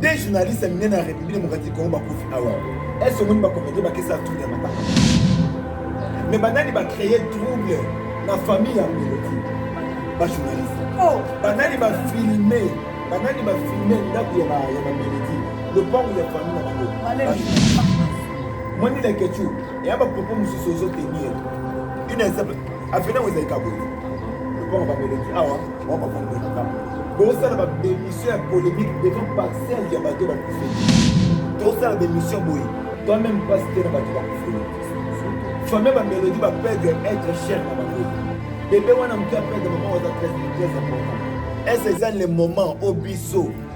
Des journalistes minene ya République démocratique Congo bakufi awa. Est-ce que omoni bakomite bakesa trouble ya matanga? Mais banani ba créer trouble na famille ya Mbeloti? Ba journaliste. Oh, banani ba filmer, banani ba filmer ndako ya ba ya ba Mbeloti. Lopango ya famille na bango. Mwani la kechu, ya ba propos mususu ozo tenir. Ina ezaba afena wezalika boye. Lopango ba Mbeloti awa. bosala babemission ya polémique devant parcelle ya bato bakufeli tosala bemission boye toi même pasi te na bato bakufeli famille bamelodi bapedre être cher na bango bebe wana moke apedre mama waza très très important ese eza le moment o biso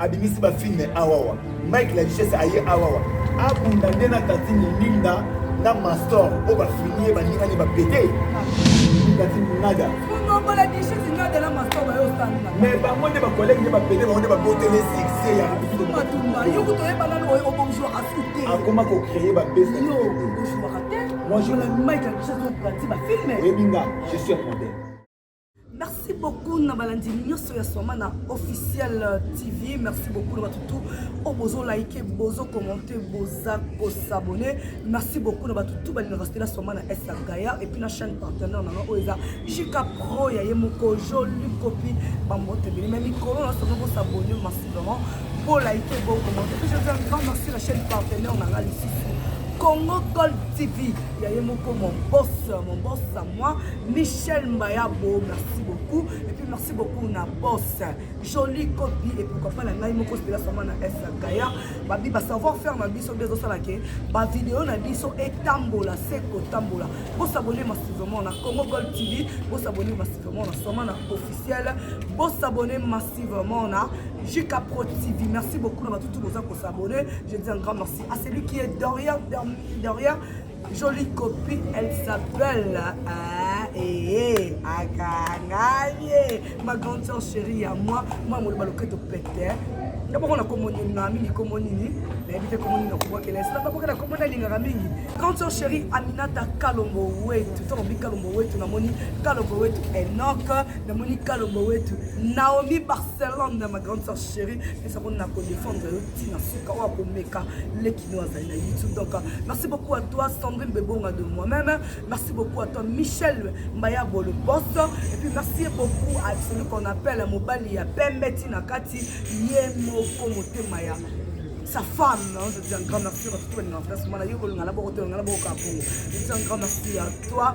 abimisi ba filme awawa mike la richesse aye awawa abunda nde na tatine linda na mastor oyo bafini ye balingani bapete tatine nada me bango nde bakolege nde bapete bango nde babotele succès ya akoma kocreye babesa moi je oyebi nga je suis un modèle Merci beaucoup na balandi nyoso ya Swamana officiel euh, TV. Merci beaucoup na bato tout oyo oh, bozo like, bozo commenter, boza ko s'abonner. Merci beaucoup na bato tout balinga respect na Swamana Esa Gaia et puis na chaîne partenaire na oyo oh, eza JK Pro ya ye moko joli copie ba mbote bele mais mikolo na somo ko s'abonner massivement. Bo like, bo commenter. Je vous un grand merci la chaîne partenaire na Alice. Congo Gold TV ya ye moko mon boss mon boss à moi Michel Mbayabo, merci beaucoup. Et puis merci beaucoup na boss. Jolie copie et pourquoi pas la ngai moko stela sama na S Kaya. Babi ba savoir faire ma biso bezo sala ke ba vidéo na biso etambola seko tambola. Bo s'abonner massivement na Congo Gold TV, bo s'abonner massivement na sama na officiel, bo s'abonner massivement na JK Pro TV. Merci beaucoup na tout boza ko s'abonner. Je dis un grand merci à celui qui est derrière derrière Jolie copie, elle s'appelle ah, eh, Akangaye, ma grande soeur chérie à moi, moi mon baloketo pète. nga bongo na kombo nini na mingi kombo nini nayebi te kombo nini nakobwakela esi nabakoki na kombo nalingaka mingi grande soeur chérie aminata kalombo wetu to nabi kalombo wetu namoni kalombo wetu enok namoni kalombo wetu naomi barcelone na ma grande soeur chérie esa koni na kodefendre yo ntina suka oyo akomeka leki Nous azali na YouTube donc merci beaucoup à toi Sandrine Bebonga de moi-même merci beaucoup à toi Michel Mbaya Bolo Boss et puis merci beaucoup à celui qu'on appelle Mobali ya Pembe Tina Kati Yemoko Motema ya sa femme, hein, je dis un grand merci à toi, je dis un grand merci à toi,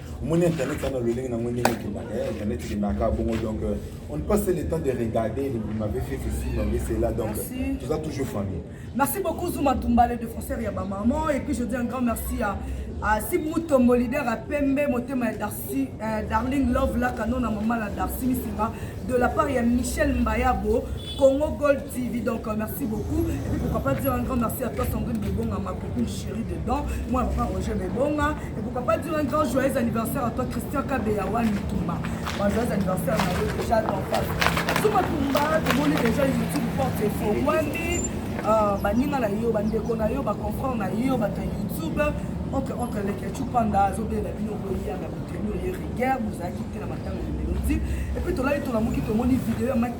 omoni internet wana lolenge nango ndenge ekendaka eh, internet ekendaka bongo donc euh, on ne passe le temps de regarder vous m'avez fait ceci vous m'avez cela donc toza toujours famille merci beaucoup zuma tumbale de français ya bamaman et puis je dis un grand merci à asi mutombo leader ya pembe motema ya darcy euh, darling love laka nona mama na darcy misimba de la part ya michel mbayabo Congo Gold TV, donc euh, merci beaucoup. Et puis pourquoi pas dire un grand merci à toi Sandrine Bebonga, ma copine chérie dedans. Moi, papa Roger Bebonga. Et pourquoi pas dire un grand joyeux anniversaire à toi Christian Kabeyawa Mitumba. Bon, joyeux anniversaire à vous déjà dans face. Sous ma tumba, tout le monde est déjà YouTube porte et faux. Wandi, euh, baninga na yo, bandeko na yo, baconfrant na yo, bata YouTube. entre entre leke chupanda azobela bino boya na botenu ye rigueur bozalaki te na matanga ya melodi epuis tolali tolamuki tomoni video ya mike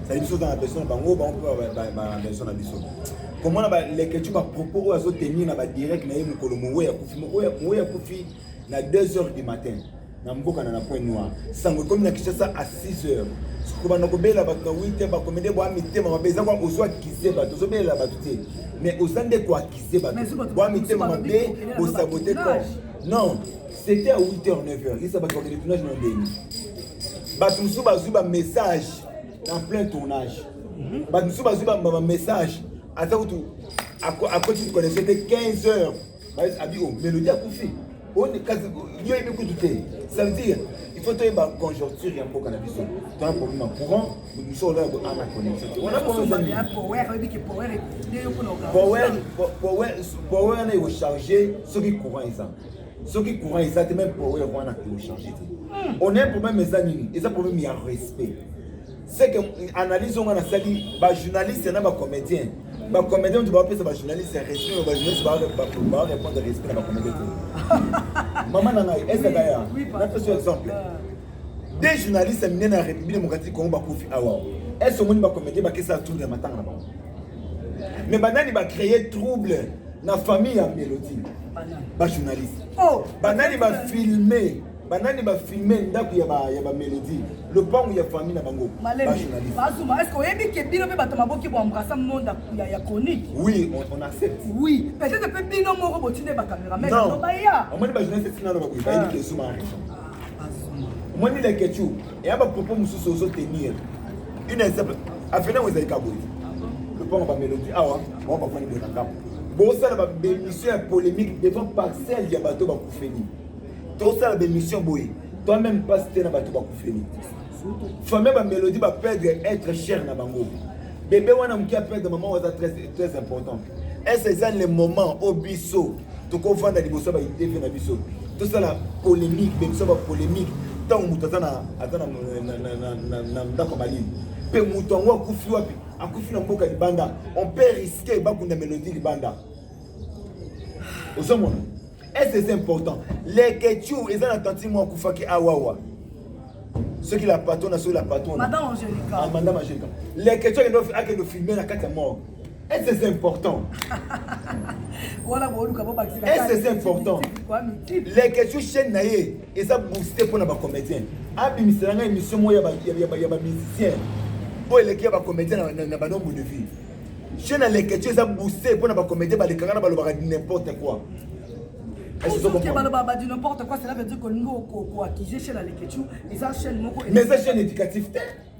sali biso oza na beso na bango bango mpe bana beso na biso komona baleketyo bapropos oyo azotenir na badirect na ye mokolo mowe ya kufi mowe ya kufi na 2 heures du matin na mboka na na point noir sango ekomi na kinshasa a 6 heures kobanda kobela bato na wite bakomede bwa mitema mabe eza kwa ozwa akize bato ozobelela bato te mais oza nde koakize bato bwa mitema mabe bosabote corps non c'était à 8 heures 9 heures isa bato bakende tunage na ndenge bato mosusu bazwi bamessage en plein tournage bato mosusu bazwi bambama message aza kutu akoti mikonese te 15 heures abi o melodi akufi yo yebi kutu te ça veut dire il faut toyeba conjoncture ya mboka na biso tona problème ya courant biso ola yako ana connexion te wana power na ekocharge soki courant eza soki courant eza te meme power wana télécharge te hmm. on a un problème eza nini eza problème ya respect c'est que analyse onga nasali bajournaliste na bacomédien bacomédien moto bapesa bajournaliste ya respect oyo bajournaliste barépondre respect na bacomédien te mama na ngai ezaka ya napesa exemple deux journaliste ya minene ya république démocratique congo bakufi awa ese omoni bacomédien bakesa tour ya matanga na bango mais banani bacreye trouble na famille ya melodie bajournaliste oh, banani bafilme banani bafilme ndako ya bamelodie lopango ya famille na bango bajournalistebazuma est ce oyebi ke bino mpe bato maboki boembrasa monda ya chronique oui on accepte oui peut-être mpe bino moko botinda bacameraman baya omoni bajournaliste etinana bakoyi bayebi ke zuma omoni lekechou eya ba propos mosusu ozo tenir une exemple afina ngo ezalika boye lopango ba melodi awa bango bafani boye na ngambo bosala ba bemission ya polémique devant parcelle ya bato bakufeli tosala bemission boye toi même pasi te na bato bakufeli famille ba melodi ba perdre être cher na bango bebe wana moke aperdre mama oyo aza très important est ce eza le moment oyo biso tokovanda liboso ya ba idv na biso tosala polemique be biso ba polemique ntango moto aza na ndako ya malili mpe moto yango akufi wapi akufi na mboka libanda on peut risquer bakunda melodie libanda ozomona est est important lekechou eza na tantine mwa akufaki awawa soki la patona soki la patona madame angelica ah, lekechou akende ofilme na kati ya morgue Est-ce que c'est important Est-ce que c'est important Les questions chaîne na ye eza booster mpo na bacomédien abimisela ngai émission moko ya bamusicien oyo eleki ya bacomédien na banombre de vie chaîne na les questions eza booster mpo na bacomédien balekaka na balobaka n'importe quoi balobabadi n'importe quoi cela veut dire que noko koaccuse chaîne ya leketchu eza chaîne moko mais eza chaîne éducative te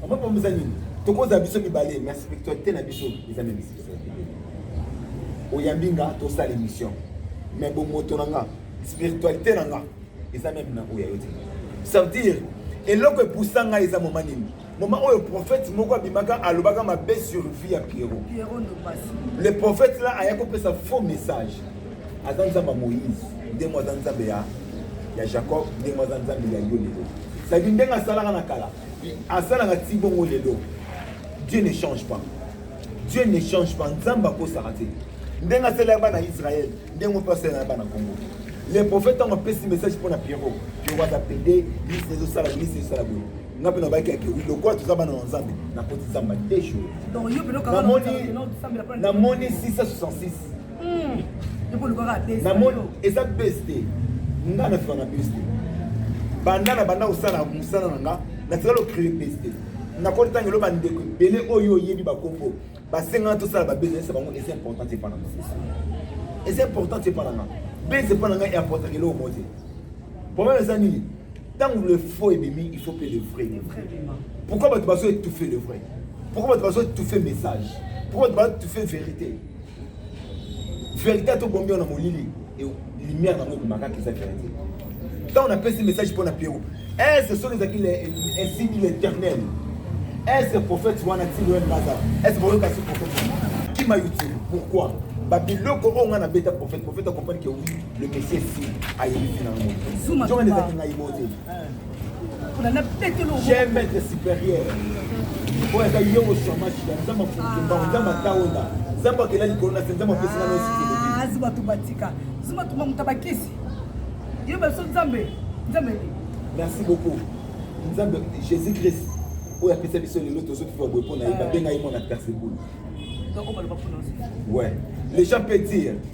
Mama mama eza nini? Tokoza biso mibale mais spiritualité na biso eza na spiritualité. Oyambi nga tosala émission mais bomoto na nga spiritualité na nga eza meme na oyo ya yo te. Ça veut dire eloko epusa ngai eza moma nini? Moma oyo prophète moko abimaka alobaka mabe sur vie ya Pierrot. Pierrot Ndobasi. Le prophète là aya kopesa faux message. aza nzambe ya moïse nde mo aza nzambe ya ya jacob nde mo aza nzambe ya yo lelo sadi ndenge asalaka na kala asalaka ti bongo lelo dieu ne change pas dieu ne change pas nzambe akosaka te ndenge asalelaka bana israel ndenge mpe asalelaka bana kongo le prophète ntango apesi message mpo na pierrot pierrot aza pede lisi ezosala lisi ezosala boye nga mpe nabaki yake wi lokola toza bana na nzambe nakoti nzambe te journamoni 666 namoni eza base te nga nafika na base te banda na banda kosala mosala na nga natikali ocree base te nakoti ntango eloba ndeko ebele oyo oyebi bakombo basengana tosala babase esa bango eza important te mpana eza important te mpana nga base mpana nga eimportaka eloko moko te problème eza nini ntango le faux ebimi il faut mpe le vrai pourquoi bato bazo étouffe le vrai pourquoi bato bazo étouffe message pourquoi bato bazo étouffe vérité verité to bombi na molili et lumière na ngoko makaka eza verité tant on a passé message pour na Pierrot est ce sont les acquis les signes l'éternel est ce prophète wana ti loin baza est ce boyo kasi prophète qui m'a utile pourquoi ba biloko oyo nga na beta prophète prophète a compris que oui le messie si ayebi na ngoko zuma zuma les acquis na ibote oyo aza yo mosamashida nza mafutumba nza mataonda nza bakela likolo na se nza mapesi na nosi bato batika zuma tuma moto bakisi yo baso nzambe nzambe merci beaucoup nzambe jésus christ oyo apesa biso lelo tozokifa boye mpo na ye babenga ye mwana persebule ouais les gens peut dire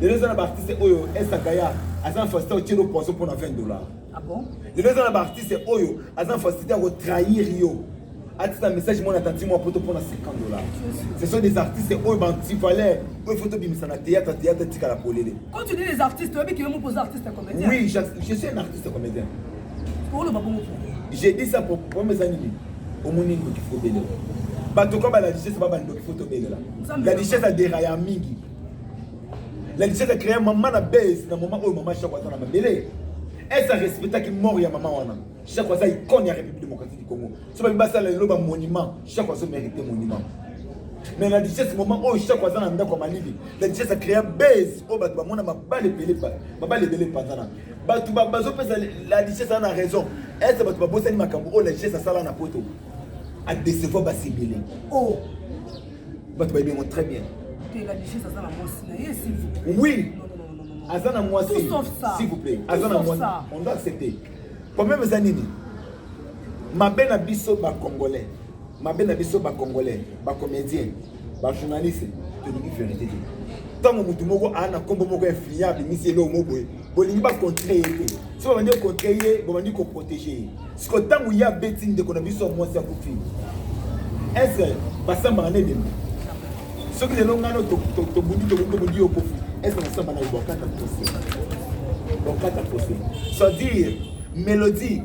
lelo eza na baartiste oyo esakaya aza na facilité otie no poisson mpo na 20 dollar ah lelo eza na baartiste oyo aza na facilité ya kotrahir yo atisa message mwana tanti mwa poto mpo na 50 dollar ce sont des artistes oyo bantivaleur oyo faut tobimisa na théâtre théâtre etikala polele quand tu dis les artistes oyebi kiyo moko oza artiste comédien oui je suis un artiste comédien oloba bongo pourquoi j'ai dit ça pour problème eza nini omoni ndoki fo belela bato kaka la richesse ba bandoki fo tobelela la richesse aderaya mingi la richesse acréa mama na base na mama oyo mama shako aza na mabele ese arespectaki mort ya mama wana shako aza icone ya république démocratique du congo so babi basala lelo bamonument shako azo mérite monument mais la richesse moment oyo shako aza na ndako ya malili la richesse acréa base oyo bato bamona mabale ebele mabale ebele mpanzana bato bazopesa la richesse ana raison ete bato babosani makambo oyo la richesse asala na poto adecevoir basebele o oh! bato bayebi yango très bien oui aza na mwasi s'il vous plaît aza na mwasi on doit accepter problème eza nini mabe na biso bacongolais mabe na biso bacongolais bacomédien ba journaliste tolingi verité te ntango motu moko aa na nkombo moko influent abimisi eloko moko boye bolingi bacontre ye te so babandi kocontre ye bobandi koprotege ye siko ntango ye abeti ndeko na biso ya mwasi akufi ese basambaka na ebembe soki lelo ngano tobundi tobundi yo kofi ese nasamba na yo bokata pose bokata pose c'est-à-dire mélodie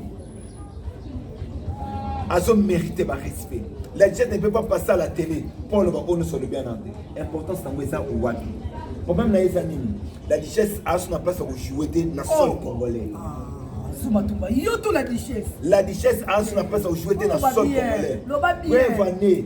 azo mérite ba respect la jet ne peut pas passer à la télé mpo aloba oyo nyonso alobi ana te importance yango eza wapi problème na ye eza nini la richesse aso na place ya kojoue te na sol oh. congolais zumatumba yo to la richesse la richesse aso na place ya kojoue te na sol congolais preuve ane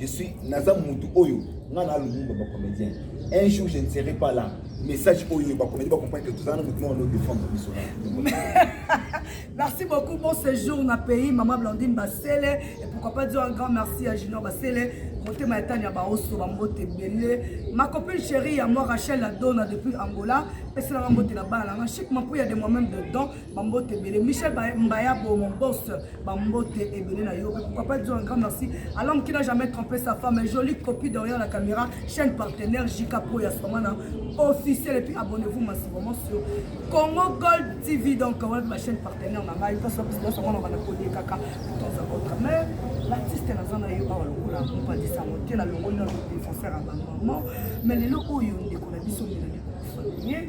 Je suis naza mutu oyo nga na lumumba ba comédien. Un jour je ne serai pas là. Message oyo ba comédien ba comprendre que tout ça na mutu on défendre biso. Merci beaucoup bon séjour na pays maman Blandine Basele et pourquoi pas dire un grand merci à Junior Basele motema ya tani ya baoso bambote ebele ma copine chérie ya moi rachel la dona depuis angola peselanga mbote na bana nanga chic mampuya de moi-même dedans bambote ebele michel mbaya bomo bos bambote ebele na yo pourquoi pas dire un grand merci à l'homme qui n'a jamais trompé sa femme jolie copie derrière la caméra chaîne partenaire jika pro ya somana officiel et puis abonnez-vous massivement sur Congo Gold TV donc wana mpe bachaîne partenaire na ngai mposo biso mwana bana kolie kaka toza autre mais l'artiste naza na yo awa lokola mopandisa yango te nalongoli na défenseur ya bamaman mais lelo oyo ndeko na biso melani kofanie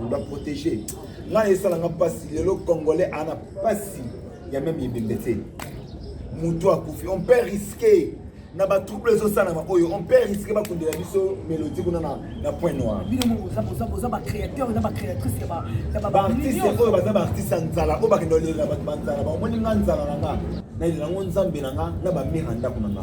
on doit protéger ngai esalanga mpasi lelo congolais ana mpasi ya meme ebembe te moto akufi on peut risquer na batrouble ezosalama oyo on peut risque bakundela biso melodi kuna na point noir baartiste oyo baza baartiste ya nzala oyo bakenda olela bato banzala baomoni nga nzala na nga nayelango nzambe na nga na bamire ya ndako na nga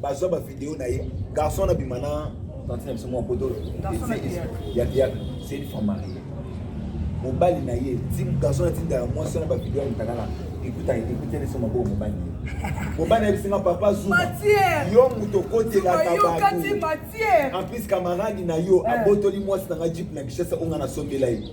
bazwa ba video na ye garçon na bima na tante na biso mwa poto ya théâtre c'est une femme mariée mobali na ye garçon atindaka mwasi wana bavideo amutaka na ekutaka ekuteli so maboko mobali mobali ayebisi nga papa zuma yo moto okotelaka bato en plus kamaradi na yo eh. abotoli mwasi na nga jipe na kishasa onga nasombela ye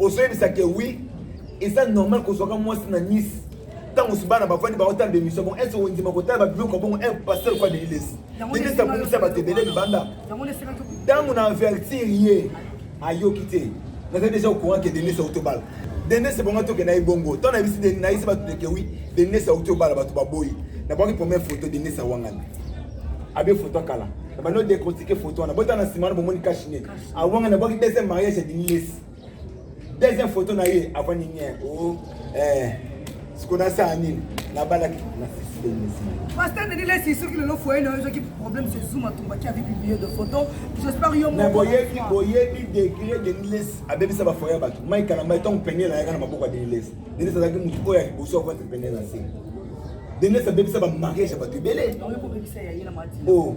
ozoyebisa ke oui eza normal kozwaka mwasi na nice ntango mosusu bana bafandi baotala bemisio bongo ese ondima kotala babiloko bongo e pasteur kwa deilesi deilesi abongisa bato ebele libanda ntango na avertir ye ayoki te naza deja ocourant ke deilesi auti obala deilesi bongo toke na ye bongo ntango nayebisi nayebisi bato deke wi deilesi auti obala bato baboyi nabwaki première photo deilesi awangani abe photo kala bano decortike photo wana botala na nsima wana bomoni kashine awanga na bwaki deuxième mariage ya dinilesi deuxième photo na ye avandi nien o oh, eh, siko nasala nini nabalaki Pasteur Denis laisse ici que le foyer n'a qui problème c'est Zoom Atumba qui avait publié de photos. J'espère yo mon. Boye bi boye bi degré de Niles abebi sa ba foyer ba. Mike na mike tong peine na yaka na maboko de Niles. Denis ça qui mutu oya liboso kwa peine na se. Denis abebi sa ba mariage ba tubele. Oh.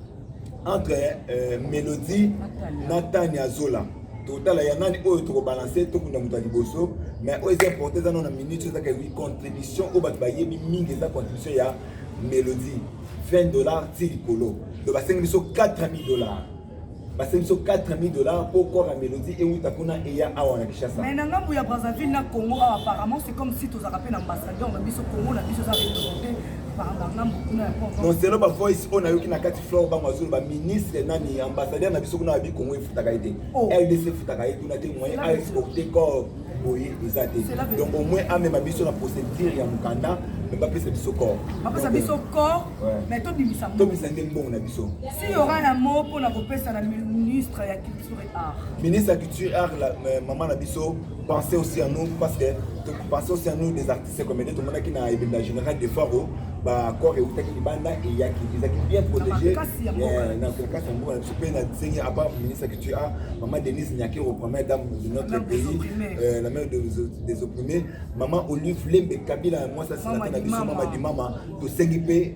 entre euh, melodie na tania zola totala ya nani oyo tokobalanse tokunda moto ya liboso mais oyo eza importe eza nao na minute ezaka ewi contribution oyo bato bayebi mingi eza contribution ya melodie 20 dollars ti likolo donc basengi biso 4000 dollars basengi biso 4000 dollars mpo corps ya melodie euta kuna eya awa na kinshasa mais na ngambo ya brazzaville na congo awa apparemment c'est comme si tozalaka mpe na ambassadeur na biso congo na biso eza représente moselo bavoice oyo nayoki na kati flore bango azolo baministre nani ambassadeur na biso kuna ya bikongo efutaka ye te rdc oh. efutaka ye kuna te moyen aexporte corps boye eza te donc au moins amema biso na procédure ya mokanda me bapesa biso corps bapesa biso corps mais tobimisa tobimisa nde mbongo na biso si yora na mo mpo na kopesa na ministre ya culture et art ministre ya culture et art mama na biso pensez aussi à nous parce que pensez aussi à nous des artistes se commettait tomonaki na ebembe ya général de faro bacor eutaki libanda eyaki ezalaki bien protégé na kolekasi ya mboka na biso mpe na nsengi apart ministre ya culture a mama denise nyakero première dame de notre pays euh, la mère des opprimés mama olive lembe kabila mwasi asilate na biso mama dimama tosengi mpe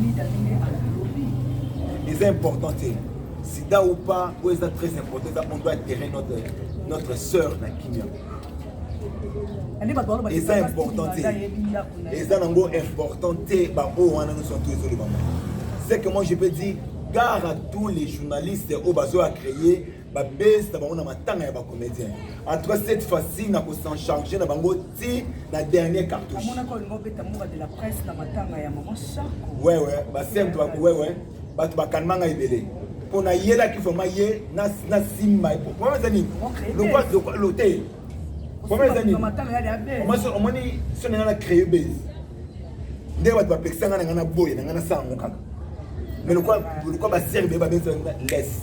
Mida ndenge alobi eza important te sida ou pas oyo eza très important eza on doit terrain notre, notre sœur na kimia eza important te eza nango important te baoyo wana nyonso to ezolobama c'est que moi je peux dire gare à tous les journalistes oyo bazoya créer ba base na bango na matanga ya ba comédien en tout cas cette fois-ci na ko s'en charger na bango ti na dernier cartouche amona ko ngo beta mura de la presse na matanga ya maman Sarko ouais ouais ba simple ba ouais ouais bato bakanima ngai ebele mpo nayelaki vraimen ye nasimba problème eza nini lokolo te problème eza nini omoni so na ngai na créer base nde bato bapekisa ngai na ngai na boye na ngai nasala yango kaka mais lokola baserbe babesa laisse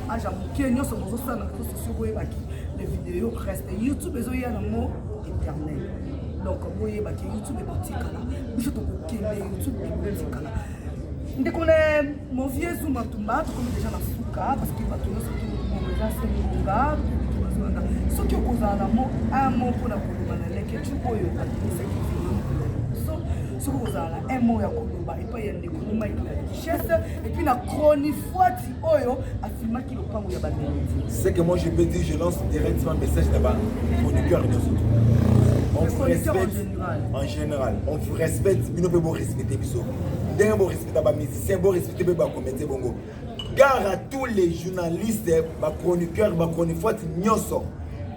age ya moke nyonso bozosala na réseau sociaux boyebaki le video reste youtube ezoya nango éternel donc boyebaki youtube ekotikala biso tokokende youtube ekotikala ndeko na mon vieux zuma tumba tokomi deja na suka parce que bato nyonso toeza semonga tozolanda soki okozala na mo un mo mpo na koloba na leketru oyo akomisaki biso soki okozala na un mo ya koloba epai ya ndeko momaiki na richesse epuis na chronifuati oyo afilmaki lopango ya bamelodi ce que moi je peux dire je lance directement message na bachroniqueur nyonso on vous respecte en général on vous respecte bino mpe borespecte biso ndenge borespecta bamusicien borespecte mpe bacomédien bongo gare à tous les journalistes bachroniqueur bachronifuati nyonso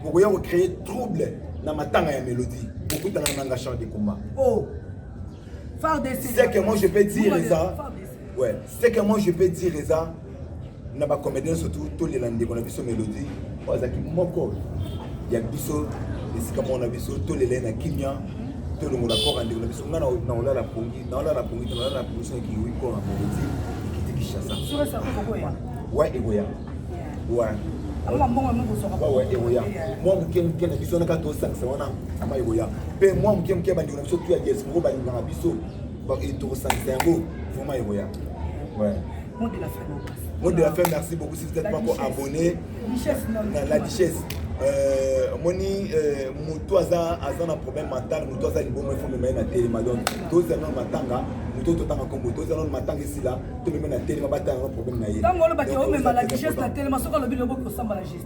bokoya kocréer trouble na matanga ya mélodie bokutana na nanga char de combat oh. c'est que moi je peux dire eza Ouais, c'est que moi je peux dire eza na ba comédien surtout tolela ndeko na biso Melodie oyo azalaki moko ya biso esika moko na biso tolela ye na kimia tolongola kora ndeko na biso ngai naolala pongi naolala pongi te naolala pongi soki kiwi kora Melodie ekiti Kinshasa wa ekoya wa ekoya mwa moke moke na biso naka tosangisa wana ama ekoya mpe mwa moke moke bandeko na biso tu ya diaspora balingaka biso tokosangisa yango vraimen ekoya mot de la fin mot de la fin merci beaucoup si vous êtes pas encore abonné na la duchesse euh, omoni euh, motu aza aza na problème mental motu aza libongo efo mema ye na telema donc tozela nano matanga motu oyo totanga nkombo tozela nano matanga esila tomema na telema batanga nano problème na ye ntango olobaki omema la duchesse na telema soki alobi loboki osamba la justice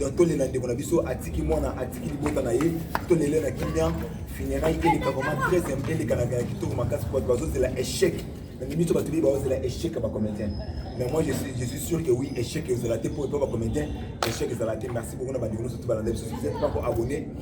donc tolela ndeko na biso atiki mwana atiki libota na ye tolele na kimia funérail eleka vraiment très aime eleka na ya kitoko makasi bato bazozela échec na miso bato biye bazozela échec ya bacomédien mais moi je suis, je suis sûr que oui échec ezala te mpo epa bacomédien échec ezala te merci beaucoup na bandeko nyonso tobalanda biso sosi mpo koabonne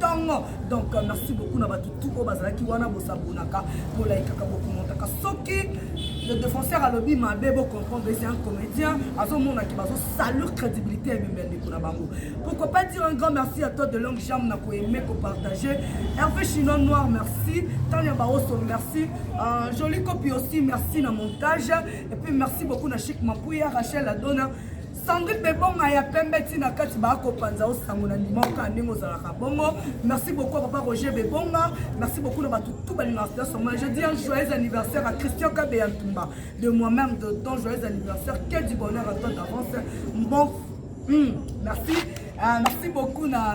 tongo donc merci beaucoup na bato tout oyo bazalaki wana bosabonaka bolaikaka bokomotaka soki le défenseur alobi mabe bocomprendre esi un comédien azomonaki bazosalure crédibilité ya bimbe ya ndeko na bango pourquoi pas dire un grand merci à toi de longue jambe na koaime kopartage herve chinois noir merci tania baoso merci euh, joli copie aussi merci na montage et puis merci beaucoup na chic mapuya rachel adona Sandrine Bebonga ya pembe ti na kati ba ko panza o sango na ndima o ka ndenge ozalaka bongo. Merci beaucoup à papa Roger Bebonga. Merci beaucoup na batu tout balinga sida soma. Je dis un joyeux anniversaire à Christian Kabe ya Tumba de moi-même de ton joyeux anniversaire. Que du bonheur à toi d'avance. Bon, hmm, merci. Uh, merci beaucoup na